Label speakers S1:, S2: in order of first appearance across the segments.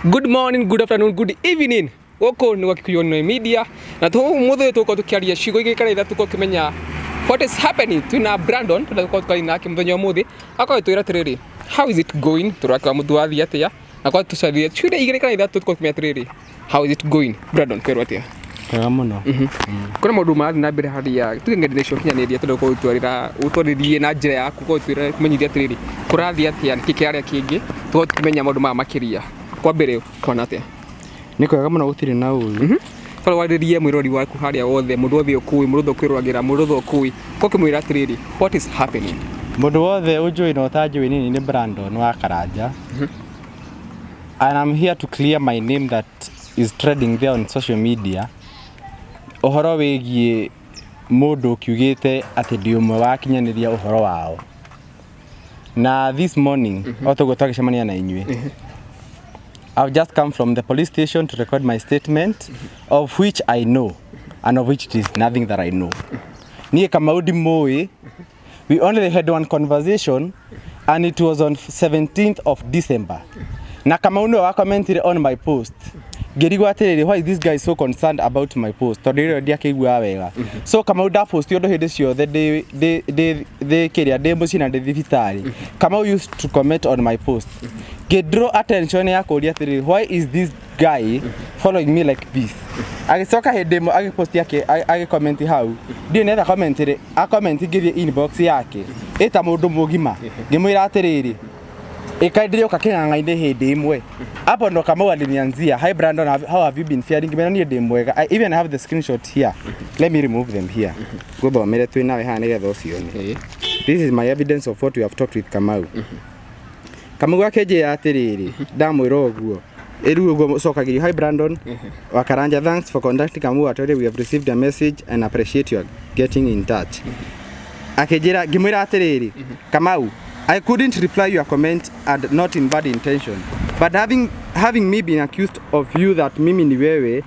S1: Good morning, good afternoon, good evening. Gũkũ nĩ Wakikuyu Online Media na tũ mũthĩ ũyũ tũgũkorwo tũkĩaria ciugo igĩrĩ kana ithatũ tũkorwo tũkĩmenya what is happening twina Brandon tondũ tũkorwo tũkaria nake mũthenya wa ũmũthĩ akorwo twĩra atĩrĩrĩ how is it going tũrakwa mũndũ wathiĩ atĩa na kwa tũcaria ciugo igĩrĩ kana ithatũ tũkorwo tũkĩmenya atĩrĩrĩ how is it going Brandon kwĩrwo atĩa Wega mũno.
S2: Kũrĩ maũndũ
S1: marathiĩ na mbere hali ya tuge ng'enda-inĩ cia ũkinyanĩria tũrenda gũkorwo tũgĩtwarĩra ũtwarĩrie na njĩra yaku ũkorwo ũgĩtwĩra ũmenyithie atĩrĩrĩ kũrathiĩ atĩa nĩkĩ kĩrarĩa kĩngĩ tũkorwo tũkĩmenya maũndũ maya makĩria. Kwa mbere ũkona atĩa? Nĩ kwega mũno
S2: gũtirĩ na ũru. Bara warĩrie
S1: mwĩrori waku harĩa wothe mũndũ wothe ũkũĩ mũndũ wothe ũkwĩroragĩra mũndũ wothe ũkũĩ ũgoka ũkĩmwĩra atĩrĩrĩ what is happening? Mũndũ wothe
S2: ũnjũĩ na ũtanjũĩ niĩ nĩ Brandon wa Karanja. And I'm here to clear my name that is trending there on social media ũhoro wĩgiĩ mũndũ ũkiugĩte atĩ ndĩ ũmwe wa akinyanĩria ũhoro wao na this morning o toguo twagĩcemania na inyuĩ I've just come from the police station to record my statement of which I know and of which it is nothing that I know niĩ kamau ndimũĩ we only had one conversation and it was on 17th of December na kama uno wa commentire on my post ngĩrigwo atĩrĩrĩ why is this guy so concerned about my post tondũ rĩrĩa ndiakĩiguaga wega so kama u ndaposti ũndũ hĩndĩ ciothe ndĩ- ndĩ- ndĩ- ndĩ kĩrĩa ndĩ mũciĩ na ndĩ thibitarĩ kama u used to comment on my post ngĩdraw attention ya kũria atĩrĩrĩ why is this guy following me like this agĩcoka hĩndĩ ĩmwe agĩposti agĩkomenti hau ndiũ netha comment rĩ a comment ngĩthiĩ inbox yake ĩta mũndũ mũgima ngĩmwĩra atĩrĩrĩ ĩka ndĩrĩũka kĩng'ang'a-inĩ hĩndĩ ĩmwe hapo ndo kamau alinianzia hi brandon have- how have you been faring ngĩmwĩra niĩ ndĩ mwega i even have the screenshot here let me remove them here ngũthomere twĩ nawe haha nĩgetha ũcione this is my evidence of what we have talked with kamau kamau gakenjĩra atĩrĩrĩ ndamwĩra ũguo ĩru ũguo cokagĩrio hi brandon wakaranja thanks for contacting kamau atwere we have received a message and appreciate your getting in touch akĩnjĩra ngĩmwĩra atĩrĩrĩ kamau i couldn't reply your comment and not in bad intention but having, having me been accused of you that mimi ni wewe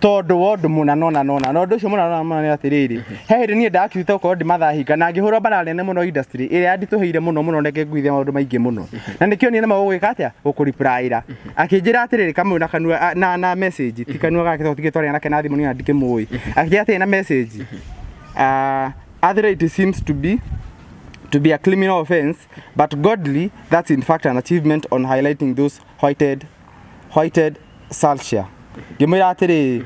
S2: tondũ wa ũndũ mũna nona nona na ũndũ ũcio mũna nona nona nĩ atĩrĩrĩ he hĩndĩ niĩ ndakirute gũkorwo ndimathahinga na ngĩhũrwo mbara nene mũno industry ĩrĩa yanditũhĩire mũno mũno neke nguithia maũndũ maingĩ mũno na nĩkĩo niĩ nema gũgwĩka atĩa gũkũripraĩra akĩnjĩra atĩrĩrĩ kamwe na kanua a- na na message ti kanua gake tondũ tigĩtwarana nake na thimũ niĩ na ndikĩmũĩ akĩnjĩra atĩrĩ na message uh, arthritis seems to be to be a criminal offense, but godly, that's in fact an achievement on highlighting those whited whited salshia ngĩmwĩra atĩrĩrĩ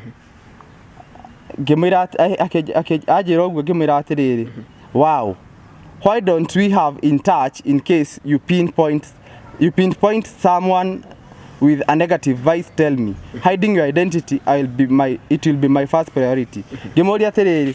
S2: ngĩmwĩra atĩ- a- akĩ- akĩ- anjĩra ũguo ngĩmwĩra atĩrĩrĩ wow why don't we have in touch in case you pinpoint you pinpoint someone with a negative vice tell me hiding your identity I'll be my, it will be my first priority ngĩmũria atĩrĩrĩ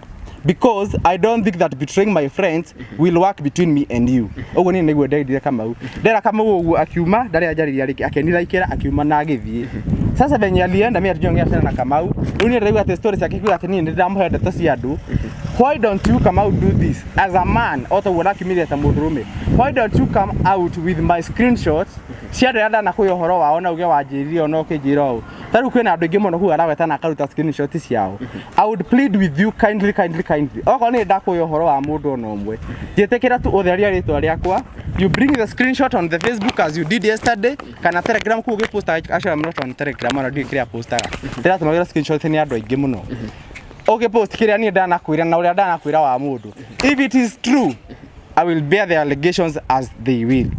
S2: because i don't think that betraying my friends will work between me and you ũguo niĩ nĩguo ndeirire kamau ndera kamau ũguo akiuma ndarĩ anjarĩria rĩngĩ akenira ikera akiuma na agĩthiĩ sasa venye alienda mimi hatujongea tena na kamau rĩu niĩ ndĩraigua atĩ stories yake kiuga atĩ niĩ nĩndĩramũhe ndeto cia andũ why don't you come out do this as a man o toguo nakimire ta mũndũrũme why don't you come out with my screenshots cia andũ arĩa ndanakwĩ ũhoro wao na uge wanjĩrire ona ũkĩnjĩra ũũ Tarĩu kwĩna andũ aingĩ mũno kuga araweta na akaruta screenshot ciao. I would plead with you kindly kindly kindly. Okorwo nĩ ndakuoya ũhoro wa mũndũ ona ũmwe. Njĩtĩkĩra tu ũtheria rĩtwa rĩakwa. You bring the screenshot on the Facebook as you did yesterday kana Telegram kuga posta actually I'm not on Telegram ona ndiũĩ kĩrĩa postaga. Ndĩratũmagĩra screenshot nĩ andũ aingĩ mũno. Okay post kĩrĩa niĩ ndanakwĩra na ũrĩa ndanakwĩra wa mũndũ. If it is true I will bear the allegations as they will.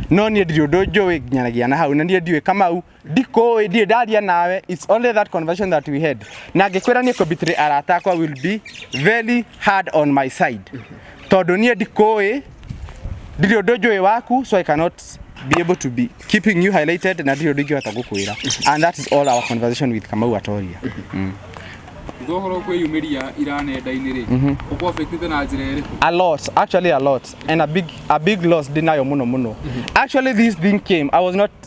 S2: No niĩ ndirĩ ũndũ njũĩ nginyanagia na hau na niĩ ndiũĩ Kamau ndikũĩ ndirĩ ndaria nawe it's only that conversation that we had na ngĩkwĩra niĩ kũbitire arata akwa will be very hard on my side tondũ niĩ ndikũĩ ndirĩ ũndũ njũĩ waku so i cannot be able to be keeping you highlighted na ndirĩ ũndũ ingĩhota gũkwĩra and that is all our conversation with kamau atoria Thutha
S1: ũhoro kwĩyumĩria ira nenda-inĩ rĩ ũkũ affectĩte na njĩra ĩrĩkũ a lot actually a
S2: lot and a big a big loss ndinayo muno muno actually this thing came i was not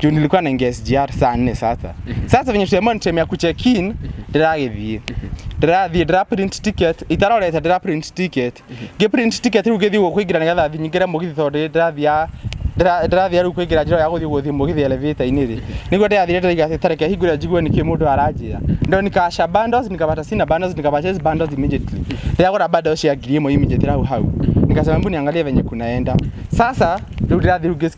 S2: juu nilikuwa naingia SGR saa nne sasa sasa venye tuliamua ni time ya kucheck in ndĩragĩthiĩ ndĩrathiĩ ndĩraprint ticket itarorete ndĩraprint ticket ngĩprint ticket rĩu ngĩthiĩ gũkũ kũingĩra nĩgetha thiĩ nyingĩre mũgithi tondũ nĩ ndĩrathiaga ndĩra- ndĩrathiaga rĩu kũingĩra njĩra ya gũthiĩ gũthiĩ mũgithi elevator-inĩ rĩ nĩguo ndĩrathire ndĩraiga atĩ tareke hingũre njigue nĩkĩ mũndũ aranjĩra ndo nikasha bundles nikapata sina bundles nikapurchase bundles immediately ndĩragũra bundles cia ngiri ĩmwe immediately hau hau nikasema mbu niangalie venye kunaenda sasa rĩu ndĩrathiĩ rĩu ngĩ-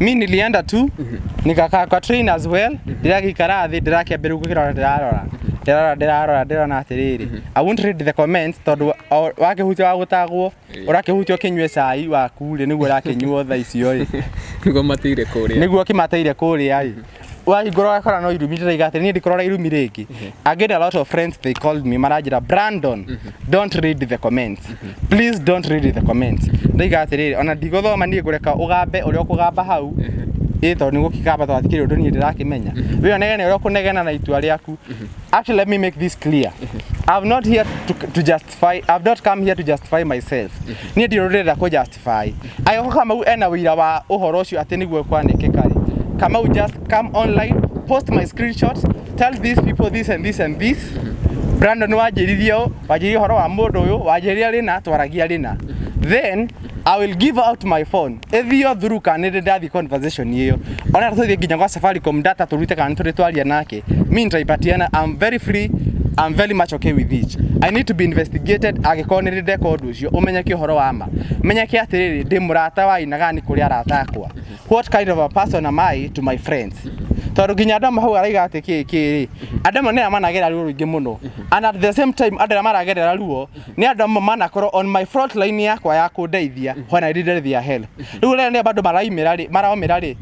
S2: mi nilienda tu nikakaa kwa train as well ndĩragĩikara thĩ ndĩrakĩambĩrĩria gũkĩrora ndĩrarora ndĩrarora ndĩrarora ndĩrona atĩrĩrĩ i won't read the comments tondũ o- wakĩhutia wa gũtagwo ũrakĩhutia ũkĩnyue cai waku rĩ nĩguo ũrakĩnyuo thaa icio rĩ nĩguo matĩire kũrĩa nĩguo ũkĩmateire kũrĩa rĩ wahingũra wakora no irumi ndĩraiga atĩ niĩ ndikũrora irumi rĩngĩ I get a lot of friends they called me maranjĩra Brandon don't read the comments please don't read the comments ndaiga atĩrĩrĩ ona ndigũthoma niĩ ngũreka ũgambe ũrĩa ũkũgamba hau ĩ tondũ nĩ gũkĩgamba tondũ hatikĩrĩ ũndũ niĩ ndĩrakĩmenya wĩ onegene ũrĩa ũkũnegena na itua rĩaku actually let me make this clear I'm not here to, to justify I've not come here to justify myself niĩ ndirũrĩrĩra kũ justify testify. Agĩkoo Kamau ena wĩira wa ũhoro ũcio atĩ nĩguo kwanĩkĩka rĩ, Kamau just come online, post my screenshots, tell these people this and this and this. Brandon wanjĩririe ũũ, wanjĩririe ũhoro wa mũndũ ũyũ, wanjĩria rĩna, twaragia rĩna. Then I will give out my phone. Ĩthio through kana nĩ ndathiĩ conversation ĩyo. Ona tũthiĩ nginya gwa Safaricom data tũrute kana nĩ tũrĩ twaria nake. Me nitaipatiana, I'm very free I'm very much okay with it. I need to be investigated angĩkorwo nĩ ndeka ũndũ ũcio ũmenyeke ũhoro wa ma. menyeke atiriri ndi murata wa aina gani kuri arata akwa what kind of a person am i to my friends tondu nginya andu amwe hau araiga ati ki ki ri andu amwe nira managerera ruo ruingi muno and at the same time andu aria maragerera ruo ni andu amwe manakorwo on my front line yakwa ya kundeithia when i needed their help riu rĩrĩa nĩ bado maraimĩra rĩ maraumĩra rĩ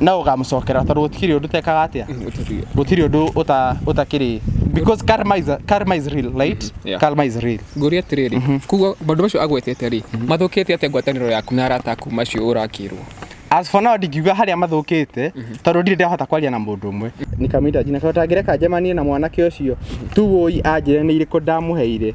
S2: na ũkamũcokera tondũ gũtikĩrĩ ũndũ tekaga atĩa Gũtari- gũtirĩ ũndũ ũta- ũtakĩrĩ because karma is, karma is real right yeah. karma is real ngũria atĩrĩrĩ
S1: koguo maũndũ macio agwetete rĩ mathũkĩte atĩa ngwatanĩro yaku na arata aku macio ũrakĩrwo as for now
S2: ndingiuga harĩa mathũkĩte tondũ ndirĩ ndahota kwaria na mũndũ ũmwe nikamwita jina tondũ tangĩreka njemanie na mwanake ũcio tuwoi anjĩre nĩ irĩkũ ndamũheire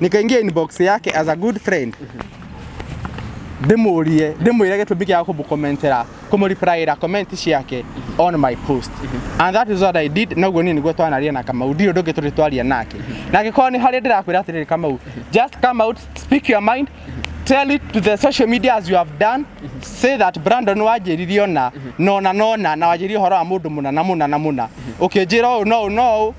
S2: nikaingia inbox yake as a good friend ndimurie ndimwire gitumi kia kumukommentera kumureplyira comment ciake on my post and that is what I did na guo ni niguo twanaria na Kamau ndirĩ ũndũ ũngĩ tũrĩ twaria nake na angĩkorwo nĩ harĩa ndĩrakwĩra atĩrĩrĩ Kamau just come out speak your mind tell it to the social media as you have done say that Brandon wanjĩrire ona nona nona na wanjĩrire ũhoro wa mũndũ mũna na mũna na mũna ũkĩnjĩra ũũ no ũũ no ũũ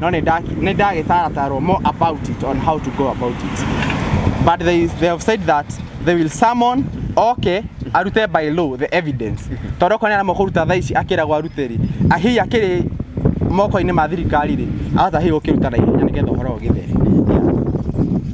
S2: no nĩ nda- nĩ ndagĩtaratarwo more about it on how to go about it but they, they have said that they will summon oke arute by law the evidence tondũ okorwo nĩ arama kũruta thaa ici akĩragwo arute rĩ ahihi akĩrĩ moko-inĩ ma thirikari rĩ ahota hihi gũkĩruta na ihenya nĩgetha ũhoro ũgĩthere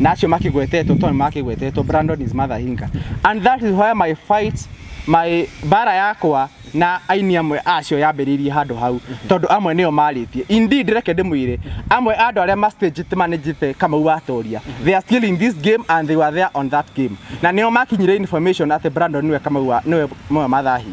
S2: na acio makigwetetwo tondũ makigwetetwo Brandon is mother Inga and that is why my fight my bara yakwa na aini amwe acio yambĩrĩirie handũ hau tondũ amwe nĩo marĩtie indeed reke ndĩmwĩre amwe a andũ arĩa ma stage managite kamau watoria they are still in this game and they were there on that game na nĩo makinyire information atĩ Brandon nĩwe kamau wa- nĩwe nĩwe mathahi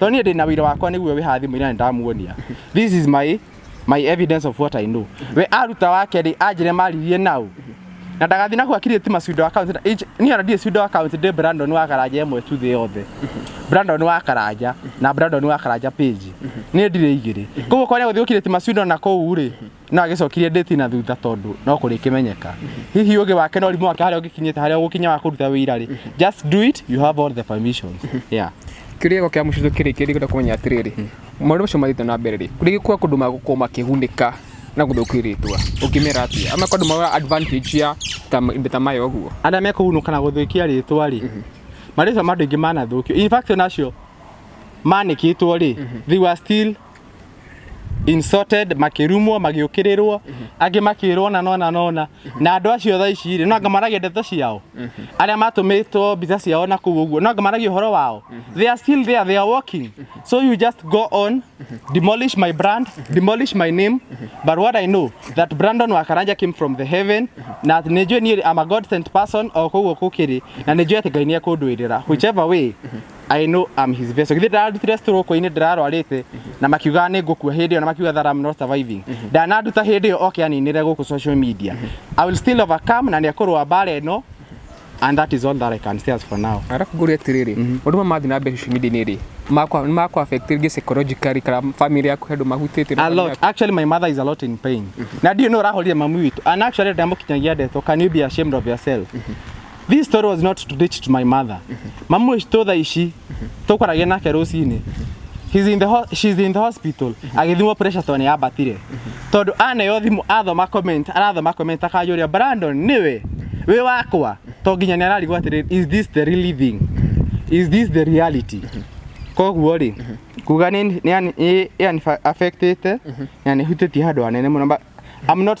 S2: tondũ niĩ ndĩna wĩira wakwa nĩguo wĩ haha thimũ-inĩ na ndamuonia this is my my evidence of what I know we aruta wake rĩ anjĩre maririe nau na ndagathiĩ na kuakirire ti macindo account na- inj- niĩ ona ndirĩ cindo account ndĩ Brandon wa karanja ĩmwe tu thĩ yothe Brandon wa karanja na Brandon wa karanja page niĩ ndirĩ igĩrĩ koguo korĩa gũthiĩ gũkirĩti macindo na kũu rĩ no agĩcokirie ndĩti na thutha tondũ no kũrĩkĩmenyeka hihi ũgĩ wake na ũrimũ wake harĩa ũngĩkinyĩte harĩa ũgũkinya wa kũruta wĩira rĩ just do it you have all the permissions yeah kĩrĩgo kĩa mũcitũ
S1: kĩrĩ kĩrĩ kwenda kũmenya atĩrĩrĩ maũndũ macio mathiĩte na mbere rĩ kũrĩ kwa kũndũ magũkorwo makĩgunĩka na gũthũkia rĩtwa ũkĩmera atĩa ama kũndũ mawa advantage ya ta ma- indo ta maya ũguo arĩa mekũhunũka na gũthũkia
S2: rĩtwa rĩ marĩtwa ma andũ aingĩ manathũkio in fact onacio manĩkĩtwo rĩ they were still insulted makirumwo magiukĩrĩrwo angĩ makĩrwo na nona nona na andũ acio tha ici rĩ nanga maragia ndeto ciao arĩa matũmĩtwo mbica ciao na kũu ũguo nanga maragia ũhoro wao they are still there they are walking so you just go on demolish my brand demolish my name but what I know that Brandon Wakaranja came from the heaven na nĩ njũĩ niĩ I'm a God sent person o kũguo gũkĩrĩ na nĩ njũĩ atĩ Ngai nĩ ekũndũĩrĩra whichever way I know I'm his vessel. Githĩ ndararutire story ũkũ-inĩ ndĩrarwarĩte na makiuga nĩ ngũkua hĩndĩ ĩyo na makiuga that I'm not surviving. Ndanaruta hĩndĩ ĩyo oke aninĩre gũkũ social media. I will still overcome na nĩ ekũrũa mbara ĩno and that is all that I can say as for now. arabu ngũria atĩrĩrĩ
S1: ũndũ ma mathiĩ na mbere social media nĩ rĩ makwa makwa affect rĩngĩ psychologically kana family yaku handũ mahutĩte na a family lot yaku. actually my
S2: mother is a lot in pain na ndiũ nĩ ũrahorire mamu witũ and actually ndamukinyagia ndeto can you be ashamed of yourself this story was not to reach to my mother mamu witũ thaa ici tũkwaragia nake rũcinĩ He's in the ho- she's in the hospital agĩthimwo pressure tondũ nĩyambatire tondũ aneo thimũ athoma comment arathoma comment akajũria Brandon nĩwe wĩ wakwa to nginya nĩ ararigwo atĩrĩ is this the really thing is this the reality koguo rĩ kuga nĩ nĩ- nĩ affectĩte na nĩ hutĩtie handũ hanene mũno but I'm not